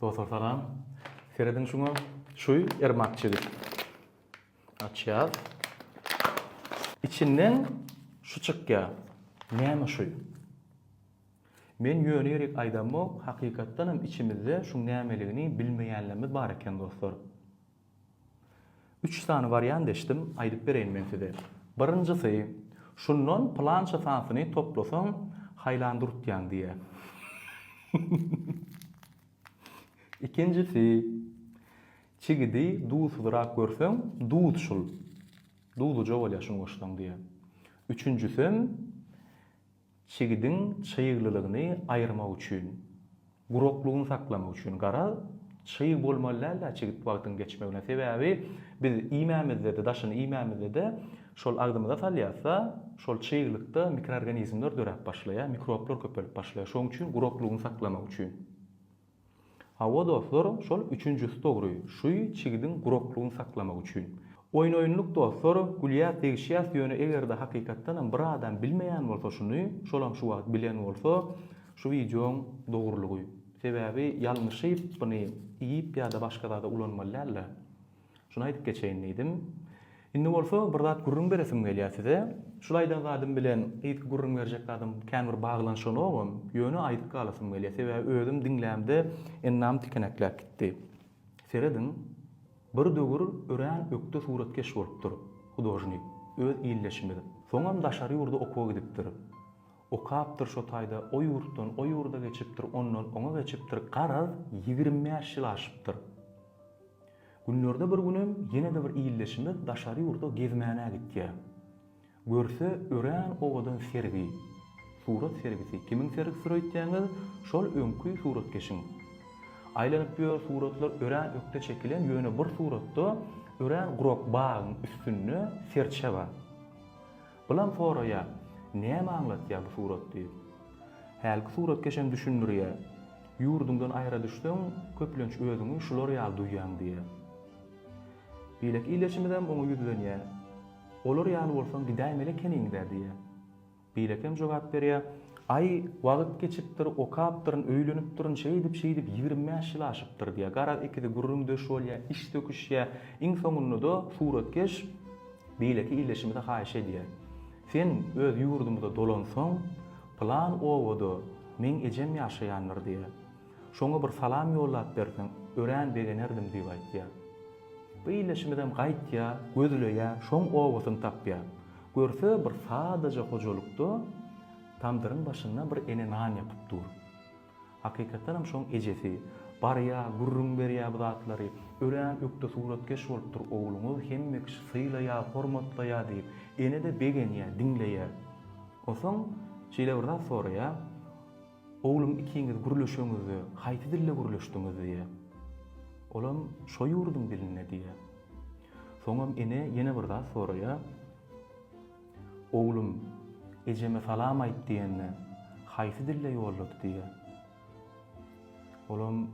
Dostlar salam. Serediň şuňa. Şu ermak çigit. Açýar. İçinden şu çykýar. Näme şu? Men ýöne ýerik aýdamok, hakykatdan hem içimizde şuň nämeligini bilmeýänlerimiz bar eken dostlar. Üç sany wariant eşdim, aýdyp bereýin men size. Birinjisi, şundan pylança sanysyny toplasaň, haýlan durtýaň diýýär. Ikinjisi, çigidi duzsyzrak görseň, duz şul, duzluja bolýar şuny goşsaň diýýär. Üçünjisem, Çigidiň çyglylygyny aýyrmak üçin, guraklygyny saklamak üçin, garaz, çyg bolmaly däl-dä çigit wagtyň geçmegine. Sebäbi biz iýmämizde-de, daşyny iýmämizde-de şol agzymyza salýarys-da, şol çyglykda mikroorganizmler döräp başlaýar, mikroblar köpelip başlaýar. Şonuň üçin guraklygyny saklamak üçin. Hawa dostlar şol üçünjisi dogry şuy çigidiň guraklygyny saklamak üçin. Oýun oýunlyk dostlar gülýäs degişýäs ýöne egerde hakykatdanam bir adam bilmeýän bolsa şuny şolam şu wagt bilen bolsa şu wideoň dogrulygy. Sebäbi ýalňyşyp buny iýip ýada başga zada ulanmaly dälde. Şuny aýdyp geçeýin diýdim. Indi bolsa bir zat gürrüň beresim gelýär size. Şul aýdan zadym bilen yzky gürrüň berjek zadym kän bir baglanyşanogam, ýöne aýdyp galasym gelýär. Sebäbi özüm diňlämde enäm tikenekläp gitdi. Serediň, bir döwür örän ökde suratkeş bolupdyr, hudožnik, öz ildeşimiz. Soňam daşary ýurda okuwa gidipdir. Okapdyr şo taýda o ýurtdan o ýurda geçipdir, ondan oňa geçipdir, garaz, ýigrimi bäş ýyl aşypdyr. Günlerde bir günem ýene-de bir ildeşimiz daşary ýurda gezmänä gitýär. Görse, örän owadan sergi. Surat sergisi. Kimiň sergisdir öýtýäňiz? Şol öňki suratkeşiň. Aýlanyp ýör, suratlar örän ökde çekilen, ýöne bir suratda örän gurak bagyň üstünde serçe bar. Bulam soraýar, näme aňlatýar bu surat diýip. Hälki suratkeş hem düşündirýär, ýurduňdan aýra düşseň, köplenç özüňi şular ýaly duýýaň diýýär. Beýleki ildeşimizem oňa ýüzlenýär, Olar ýaly bolsaň gidäýmeli ekeniň-dä diýýär. Beýlekem jogap berýär, Aý, wagt geçipdir, okapdyryn, öýlenipdirin, şeýdip-şeýdip ýigrimi bäş ýyl aşypdyr diýýär. Garaz, ikisi gürrüňdeş bolýar, iş söküşýär. Iň soňunda-da suratkeş Beýleki ildeşimize haýyş edýär. Sen öz ýurdumyza dolansaň, pylan obada meň ejem ýaşaýandyr diýär. Şoňa bir salam ýollap berseň, örän begenerdim diýip aýtýar. Bu ildeşimizem gaýtýar, gözleýär, şoň obasyny tapýar. Görse, bir sadaja hojalykda tamdyryň başynda bir ene nan ýapyp dur. Hakykatdan hem şoň ejesi, Barýa, gürrüň berýä bu zatlary. Örän ökde suratkeş bolupdyr ogluňyz, hemme kişi sylaýa, hormatlaýa diýip. Ene-de begenýä, diňleýä. Onsoň şeýle bir zat soraýa, Oglum ikiňiz gürleşeňizde, haýsy dilde gürleşdiňiz diýä. Olam, Şo ýurduň dilinde diýä. Soňam ene ýene bir zat soraýa. Oglum, ejeme salam aýt diýende, haýsy dilde ýollady diýýär. Olam,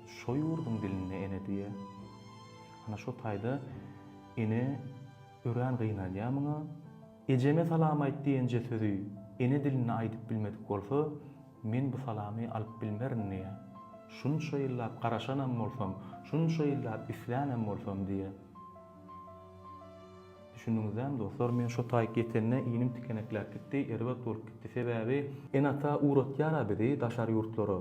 Şo ýurduň dilinde, ene diýýär. Ana şo taýda ene örän gynalýar muňa. Ejeme salam aýt diýenje sözi ene dilinde aýdyp bilmedik bolsa, men bu salamy alyp bilmerin diýýär. Şunça ýyllap garaşanam bolsam, şunça ýyllap islänam bolsam diýýär. Düşündiňizlämi, dostlar, men şo taýyk ýetende inim tikenekläp gitdi, erbet bolup gitdi. Sebäbi ene-ata ugratýar-a bizi daşary ýurtlara.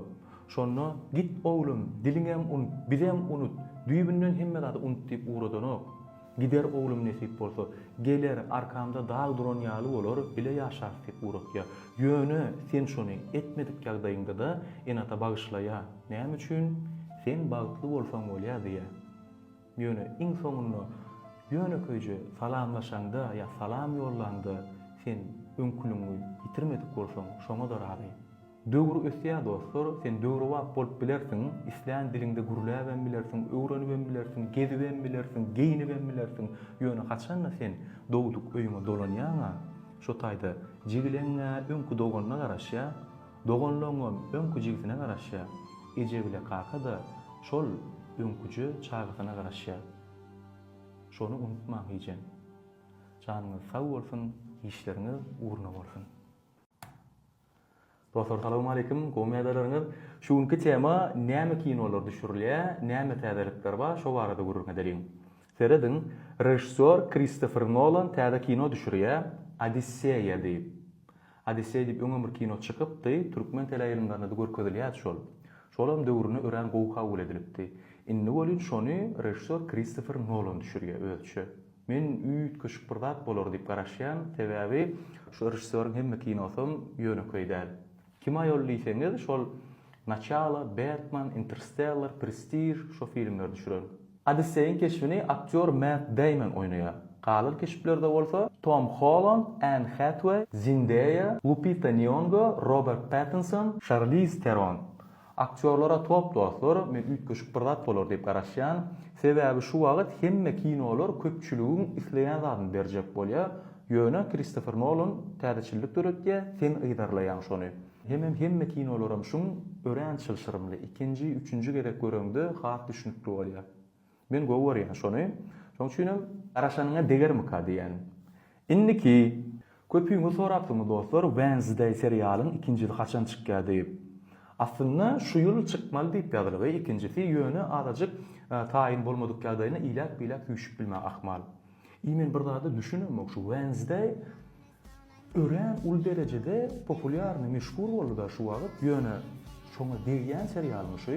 Şonda, Git, oglum, diliňem unut, bizem unut, düýbünden hemme zady unut diýip ugradanok. Gider oglum nesip bolsa. Geler, arkamda dag duran ýaly bolar, bile ýaşarys diýip ugratýar. Ýöne, sen şony etmedik ýagdaýyňda-da ene-ata bagyşlaýar. Näme üçin? Sen bagtly bolsaň bolýar diýýär. Ýöne iň soňunda ýönekeýje salamlaşaňda ýa salam ýollaňda sen öňküligiňi ýitirmedik bolsaň, şoňa-da razy. Döwür ösýär dostlar, sen döwrebap bolup bilersiň, islän diliňde gürläbem bilersiň, öwrenibem bilersiň, gezibem bilersiň, geýnibem bilersiň, ýöne haçan-da sen dogduk öýüňe dolanýaň-a, şo taýda jigileň-ä öňki doganyna garaşýar, Doganlygyňam öňki jigisine garaşýar. Eje bile kaka-da şol öňküje çagasyna garaşýar. Şony unutmaň ejem. Janyňyz sag bolsun, işleriňiz ugruna bolsun. Dostlar salawmaleýkim, gowy ýagdaýlaryňyz. Şu günki tema näme kinolar düşürilýä, näme täzelikler bar şo barada gürrüň edeliň. Serediň, režissýor Kristofer Nolan täze kino düşürýä, Odisseýa diýip. Odisseý diýip öňem bir kino çykypdy, türkmen teleýaýlymlarynda-da görkezilýärdi şol. Şolam döwrüne örän gowy kabul edilipdi. Indi welin şony režissýor Kristofer Nolan düşürýär özüçe. Men üýtgeşik bir zat bolar diýip garaşýan, sebäbi şu režissýoryň hemme kinosam ýönekeý däl. Kim aýol diýseňiz, şol Naçalo, Bertman, Interstellar, Prestiž, şo filmleri düşüren. Odisseýiň keşbini aktýor Mett Deýmon oýnaýar. Galan keşplerde bolsa Tom Holland, Enn Hätweý, Zendeýa, Lupita Nýongo, Robert Pattinson, Şarliz Teron. Aktýorlara top dostlar, men üýtgeşik bir zat bolar diýip garaşýan. Sebäbi şu wagt hemme kinolar köpçüligiň isleýän zadyny berjek bolýar. Ýöne Kristofer Nolan täzeçillik döretýär, sen yzarlaýaň şony. Hemem hemme kinolaram şuň örän çylşyrymly, ikinji, üçünji gezek göreňde has düşnükli bolýar. Men gowy görýän şony, şoň üçinem. Garaşanyňa degermika diýýän. Indiki. Köpüňiz sorapsyňyz dostlar Wednesday serialyň ikinjisi haçan çykýar diýip. Aslynda şu ýyl çykmaly diýip ýazylygy ikinjisi ýöne azajyk taýyn bolmadyk ýagdaýynda iläp-biläp süýşüp bilmän ahmal. I men bir zada düşünemok şu Wednesday Örän uly derejede populýarnyý meşhur boldyda şu wagyt ýöne şoňa degýän serialymy şü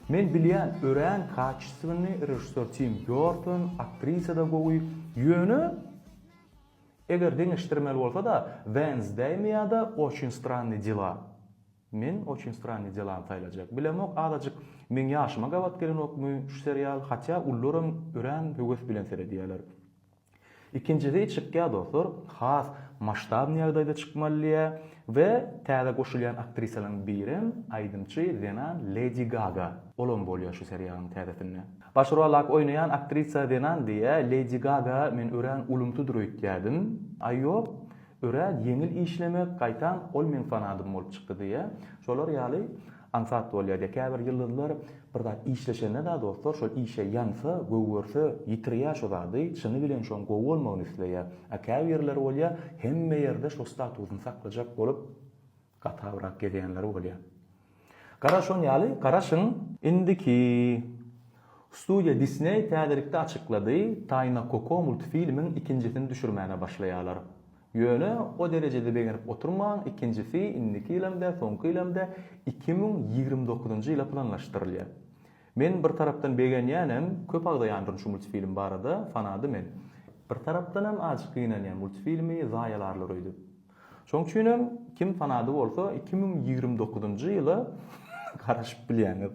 Men bilýän örän kaçestwenny režissýor Tim Býorton aktrisada gowy ýöne eger deňeşdirmeli bolsada Wednesdaymi ýada Oçin stranny dela Men Oçin stranny delany saýlajak bilemok azajyk meň ýaşyma gabat gelenokmy şu serial hatýa ullaram örän höwes bilen seredýäler. Ikinjisi çykýar dostlar, has maştabny ýagdaýda çykmaly diýýär we täze goşulýan aktrisalaryň birem aýdymçy zenan Ledi Gaga. Olam bolýar şu seriýalyň täzesinde. Baş rolak oýnaýan aktrisa zenan diýýär, Ledi Gaga men örän ulumsydyr öýtýädim. Aý ýok, örän ýeňil işlemek, gaýtam ol meň fanadym bolup çykdy diýýär. Şolar ýaly Aňsat bolýar diýe käbir ýyldyzlar bir zat işleşenede dostlar şol işe ýansa, gögerse ýitirýär şo zady, çyny bilen şoň gowy bolmagyny isleýär. A käbir ýerler bolýar hemme ýerde şo statusyny saklajak bolup gatawrak gezýänleri bolýar. Gara şon ýaly garaşyň. Indiki. Studiýa Disney täzelikde açyklady, Taýna Koko multfilmiň ikinjisini düşürmäge başlaýarlar. Ýöne o derejede begenip oturmaň, ikinjisi indiki ýylam-da, soňky ýylam-da iki müň ýigrimi dokuzynjy ýyla planlaşdyrylýar. Men bir tarapdan begenýänem, köp agzaýandyryn şu multfilm barada, fanaty men. Bir tarapdanam azjyk gynanýan multfilmi zaýalarlar öýdüp. Şoň üçinem kim fanaty bolsa iki müň ýigrimi dokuzynjy ýyla garaşyp bilýäňiz.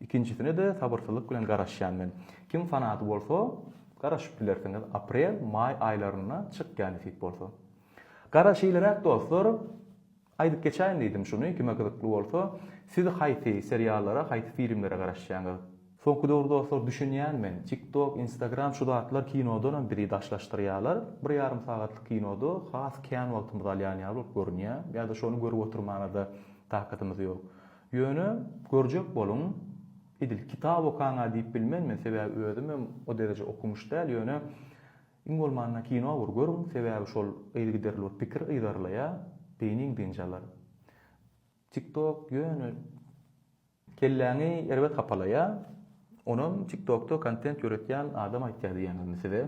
Ikinjisine-de sabyrsyzlyk bilen garaşýan men. Kim fanaty bolsa, garaşyp bilersiňiz, aprel, maý aýlarynda çykýa nesip bolsa. Gara şeýleräk dostlar, aýdyp geçäýin diýdim şuny, kime gyzykly bolsa, siz haýsy seriallara, haýsy filmlere garaşýaňyz? Soňky döwür dostlar düşünýän men, tiktok, instagram şu zatlar kinodanam bizi daşlaşdyrýalar, bir ýarym sagatlyk kinoda has kän wagtymyzy alýan ýaly bolup görünýä, ýa-da şony görüp oturmana-da takatymyz ýok. Ýöne, görjek boluň, edil kitap okaň-a diýip bilmen men, sebäbi özümem o dereje okumyş däl, ýöne, iň bolmanda kino bir görüň, sebäbi şol yzygiderli bir pikir yzarlaýar, beýniň dynç alar. Tiktok ýöne. Kelläňi erbet hapalaýar, onam tiktokda kontent ýöretýän adam aýtýar diýýän indi size.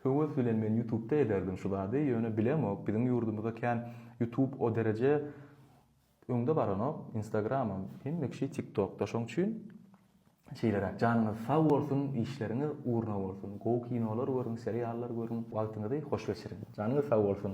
Höwes bilen men ýutubda ederdim şu zady ýöne bilemok biziň ýurdumyzda kän ýutub o dereje öňde baranok instagramam hemme kişi tik tokda şoň üçin şeýleräk janyňyz sag bolsun işleriňiz ugruna bolsun gowy kinolar görüň seriallar görüň wagtyňyzy hoş geçiriň janyňyz sag bolsun.